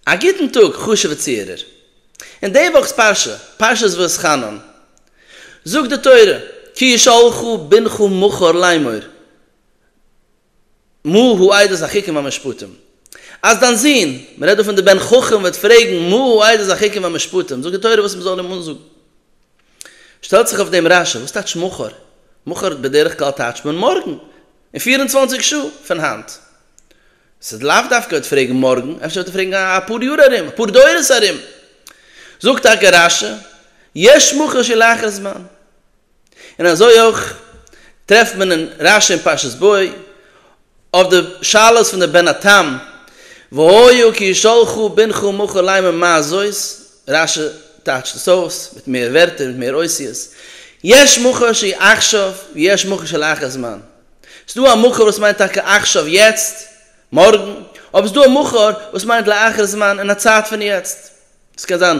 א גוטן טאג חשוב'ע צוהערער. אין די וואכ'ס פרשה, פרשת ואתחנן, זאגט די תורה, כי ישאלך בנך מכר לאמור מה הוא עדת החוקים והמשפטים, אז דיין זון, מען רעדט דא פון די בן חכם, וועט פרעגן מה הוא עדת החוקים והמשפטים, זאגט די תורה וואס מען זאל אים אנזאגן. שטעלט זיך אויף דעם רשע, וואס טייטש מכר? מכר בדרך כלל טייטשט מען מארגן, אין פֿיר און צוואַנציק שעה פון היינט. ס'איז לאו דווקא אויב פרעגן מארגן, אפשר וועט ער פרעגן אפאר יאר ארום, אפאר דורות ארום. זאגט טאקע רש י, יש מוכר שלאחר זמן. און אזוי אויך טרעפט מען אין רש י אין פרשת בוא, אויף די שאלות פון די בן התם, והיה כי שלחו בנך מוכר להם און מה זאת, רש י טייטשט עס אויס מיט מער ווערטער, מיט מער אותיות, יש מוכר שיחשב ויש מוכר שלאחר זמן. ס'דא א מחר וואס מיינט טאקע עכשיו, יעצט, מארגן, אבער ס'דא א מחר וואס מיינט לאחר זמן, אין א צייט פון יעצט. דאס קען זיין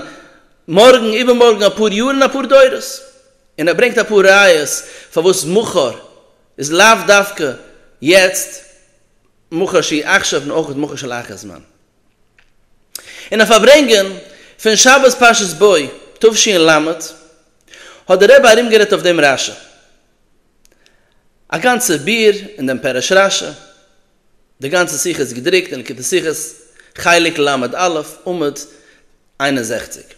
מארגן, איבערמארגן, אפאר יאר און אפאר דורות. און ער ברענגט אפאר ראיות פארוואס מחר איז לאו דווקא יעצט, מחר שהיא עכשיו און אויך מחר שלאחר זמן. אין א פארברענגען פון שבת פרשת בוא תשפ ל האט דער רבי ארומגערעדט אויף דעם רשי, א גאנצע ביאור אין דעם פרש רשע, די גאנצע שיחה איז געדרוקט אין ליקוטי שיחות חלק ל א, עמוד איין און זעכציק.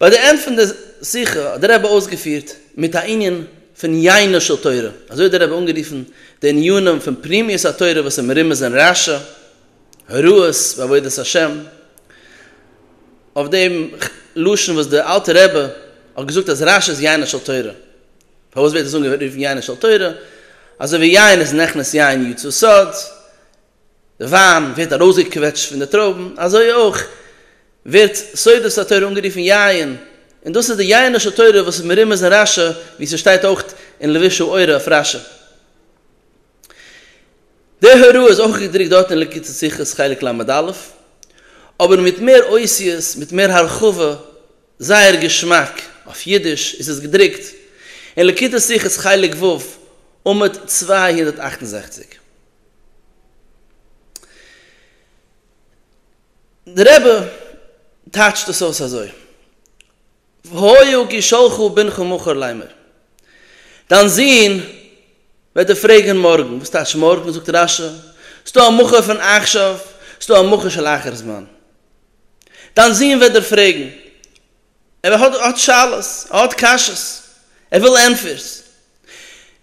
ביי די ענד פון די שיחה האט דער רבי אויסגעפירט מיט א ענין פון יינו של תורה, אזוי האט דער רבי אנגערופן די עניינים פון פנימיות התורה וואס איז מרומז אין רשע, הוראות בעבודת השם, אויף דעם לשון וואס דער אלטער רבי האט געזאגט אז רש איז יין של תורה, פארוואס ווערט עס אנגערופן יין של תורה, אזוי ווי יין איז נכנס יין יצא סוד, די וויין ווערט ארויסגעקוועטשט פון די טרויבן, אזוי אויך ווערט סודות התורה אנגערופן יין, און דאס איז די יין של תורה וואס איז מרומז אין רש, ווי ס'שטייט אויך אין לבישו אורה אויף רש. די הוראה איז אויך געדרוקט דארט אין ליקוטי שיחות חלק ל עמוד א', אבער מיט מער אותיות, מיט מער הרחבה, זייער געשמאק, אויף אידיש איז עס געדרוקט אין ליקוטי שיחות חלק ו' עמוד צוויי הונדערט אַכט און זעכציק. דער רבי טייטשט עס אויס אזוי. והיו כי שלחו בנך מחר ליימר, דיין זון וועט דיר פרעגן מארגן. וואס טייטש מארגן? זאגט רש י, ס'דא א מחר פון עכשיו, ס'דא א מחר של אחר זמן. דיין זון וועט דיר פרעגן, ער האט האט שאלות, ער האט קשיות, ער וויל ענטפערס.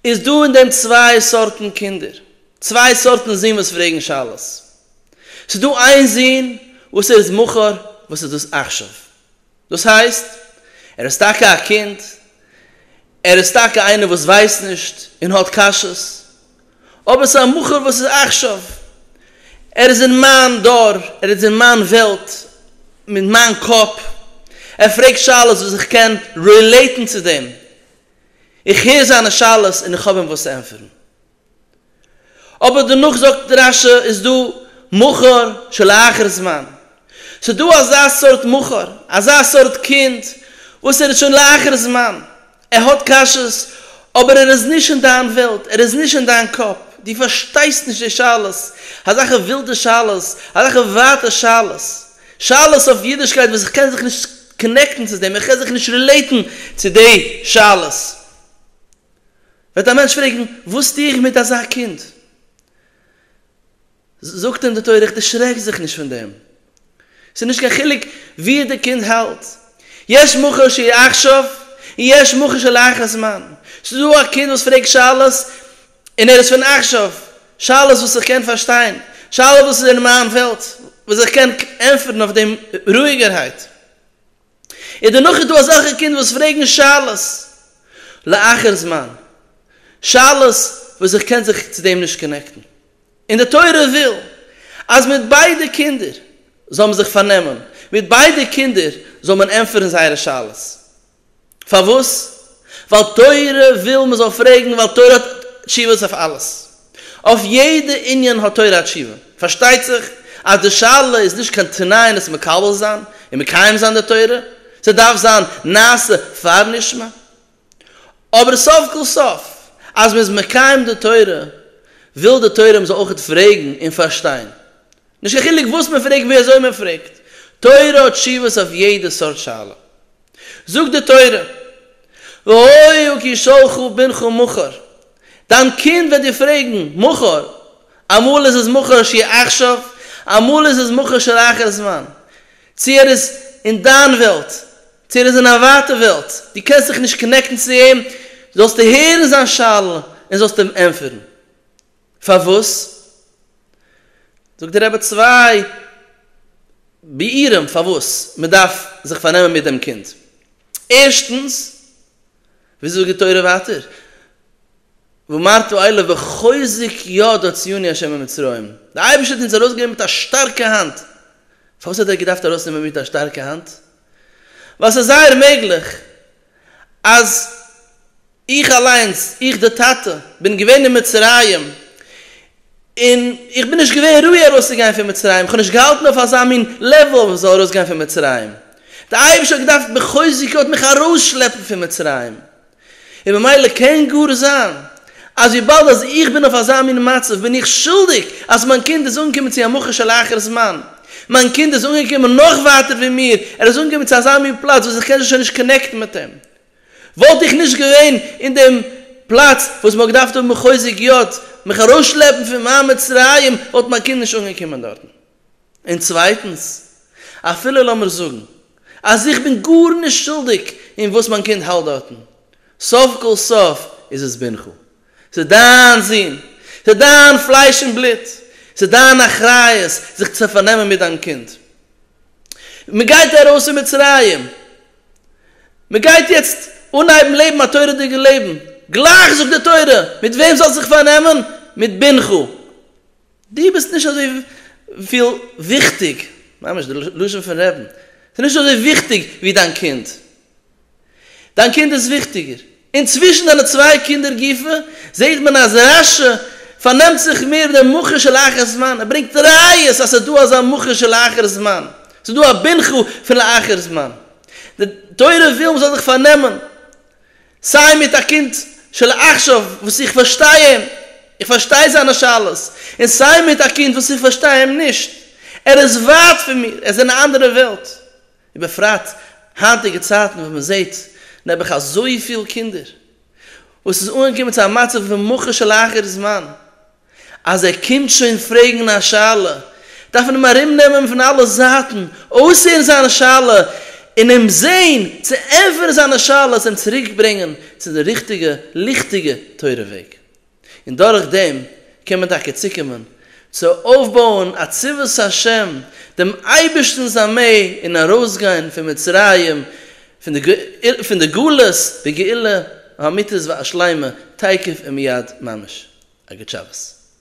איז דא אין דעם צוויי סארטן קינדער, צוויי סארטן זון וואס פרעגן שאלות. ס'דא איין זון וואס ער איז מחר, וואס איז דאס עכשיו? דאס הייסט, ער איז טאקע א קינד, ער איז טאקע איינער וואס ווייסט נישט און האט קשיות, אבער ס'איז א מכר וואס איז עכשיו, ער איז אין מיין דור, ער איז אין מיין וועלט, מיט מיין קאפ, ער פרעגט שאלות וואס איך קען רילעיטן צו דעם, איך הער זיינע שאלות און איך האב אים וואס צו ענטפערן. אבער דערנאך זאגט רא ש איז דא מכור שלאחר זמן, ס'איז דא אזא סארט מכור, אזא סארט קינד וואס ער איז שוין לאחר זמן, ער האט קשיות אבער ער איז נישט אין דיין וועלט, ער איז נישט אין דיין קאפ, דו פארשטייסט נישט די שאלות, אזעלכע ווילדע שאלות, אזעלכע ווייטע שאלות, שאלות אויף אידישקייט וואס איך קען זיך נישט קאנעקטן צו דעם, איך קען זיך נישט רילעיטן צו די שאלות. וועט א מענטש פרעגן, וואס טו איך מיט אזא קינד? זאגט אים די תורה, איך דערשרעק זיך נישט פון דעם, ס'איז נישט קיין חילוק וואו די קינד האלט, יש מוכר שיחשב און יש מוכר שלאחר זמן, ס'איז דא א קינד וואס פרעגט שאלות און ער איז פון עכשיו, שאלות וואס איך קען פארשטיין, שאלות וואס איז אין מיין וועלט, וואס איך קען ענטפערן אויף דעם רואיגערהייט. און דערנאך איז דא אזעלכע קינדער וואס פרעגן שאלות לאחר זמן, שאלות וואס איך קען זיך צו דעם נישט קאנעקטן, און די תורה וויל אז מיט ביידע קינדער זאל מען זיך פארנעמען, מיט ביידע קינדער זאל מען ענטפערן זייערע שאלות, פארוואס? ווייל תורה וויל מען זאל פרעגן, ווייל תורה האט תשובות אויף אלעס. אויף יעדע ענין האט תורה א תשובה. פארשטייט זיך אז די שאלה איז נישט קיין תנאי אין עס מקבל זיין און מקיים זיין די תורה, ס'דארף זיין נעשה פאר נשמע. אבער סוף כל סוף אז מען איז מקיים די תורה וויל די תורה מען זאל אויך פרעגן און פארשטיין. נישט קיין חילוק וואס מען פרעגט ווי אזוי מען פרעגט, תורה האט תשובות אויף יעדע סארט שאלה. זאגט די תורה, והוהו כי שלחו בנך מכור, דיין קינד וועט דיר פרעגן, מכור, אמאל איז עס מכור שיהיה עכשיו, אמאל איז עס מכור שיהיה לאחר זמן, צו ער איז אין דיין וועלט, צו ער איז אין א ווייטע וועלט, דו קענסט זיך נישט קאנעקטן צו אים, זאלסטו הערן זיין שאלה און זאלסט אים ענטפערן. פארוואס? זאגט די רבי צוויי ביאורים פארוואס מען דארף זיך פארנעמען מיט דעם קינד, ערשטנס, ווי זאגט די תורה ווייטער, ואמרתו אליו בחוזק יד הוציאוני ה' ממצרים, די אייבערשטער האט אונז ארויסגענומען מיט א שטארקע האנט, פארוואס האט ער געדארפט ארויסנעמען מיט א שטארקע האנט? ווייל ס'איז זייער מעגליך. אז איך אליינס, איך דער טאטע, בין געווען אין מצרים, און איך בין נישט געווען ראוי ארויסצוגיין פון מצרים, איך האב נישט געהאלטן אויף אזא מין לעוול אז איך זאל ארויסגיין פון מצרים, דער אייבערשטער האט געדארפט בחוזקות מיך ארויסשלעפן פון מצרים, און ממילא קען גאר זיין אז וויבאלד אז איך בין אויף אזא מין מצב בין איך שולדיג אז מיין קינד איז אנגעקומען צו א מכה של אחר זמן. מיין קינד איז אנגעקומען נאך ווייטער ווי מיר, ער איז אנגעקומען צו אזא מין פלאץ וואס איך קען זיך שוין נישט קאנעקטן מיט אים. וואלט איך נישט געווען אין דעם פלאץ וואס מען האט געדארפט האבן מחוזק יו ט מיך ארויסשלעפן פון מיין מצרים וואלט מיין קינד נישט אנגעקומען דארטן. און צווייטנס, אפילו לאמיר זאגן אז איך בין גארנישט שולדיג אין וואס מיין קינד האלט דארטן, סוף כל סוף איז עס בנך, ס'איז דיין זון, ס'איז דיין פלייש און בלוט, ס'איז דיין אחריות זיך צו פארנעמען מיט דיין קינד. מ'גייט ארויס פון מצרים, מ'גייט יעצט אנהייבן לעבן א תורה'דיגע לעבן, גלייך זאגט די תורה, מיט וועם זאלסט זיך פארנעמען? מיט בנך. דו ביסט נישט אזויפיל וויכטיג, ממש די לשון פון רעבן, דו ביסט נישט אזוי וויכטיג ווי דיין קינד, דיין קינד איז וויכטיגער. און צווישן דיינע צוויי קינדער גופא זעט מען אז רא ש פארנעמט זיך מער דעם מוכר של אחר זמן, ער ברענגט ראיות אז ס'איז דא אזא מוכר של אחר זמן, ס'איז דא א בנך פון לאחר זמן, די תורה וויל מ'זאל זיך פארנעמען סיי מיט א קינד של עכשיו וואס איך פארשטיי אים, איך פארשטיי זיינע שאלות, און סיי מיט א קינד וואס איך פארשטיי אים נישט, ער איז ווייט פון מיר, עס איז אין א אנדערע וועלט, ובפרט היינטיגע צייטן וואס מען זעט נעבעך אזויפיל קינדער וואס איז אנגעקומען צו א מצב ווי מוכה של אחר זמן. אז ער קומט שוין פרעגן א שאלה, דארף מען אים ארומנעמען פון אלע זייטן, אויסהערן זיין שאלה, און אים זען צו ענטפערן זיינע שאלות, אים צוריקברענגען צו די ריכטיגע, ליכטיגע תורה וועג. און דורך דעם קען מען טאקע צוקומען צו אויפבויען א צבאות השם, דעם אייבערשטנ'ס ארמעי, און ארויסגיין פון מצרים פון די גלות בגאולה האמיתית והשלימה תיכף ומיד ממש. אגוט שבת.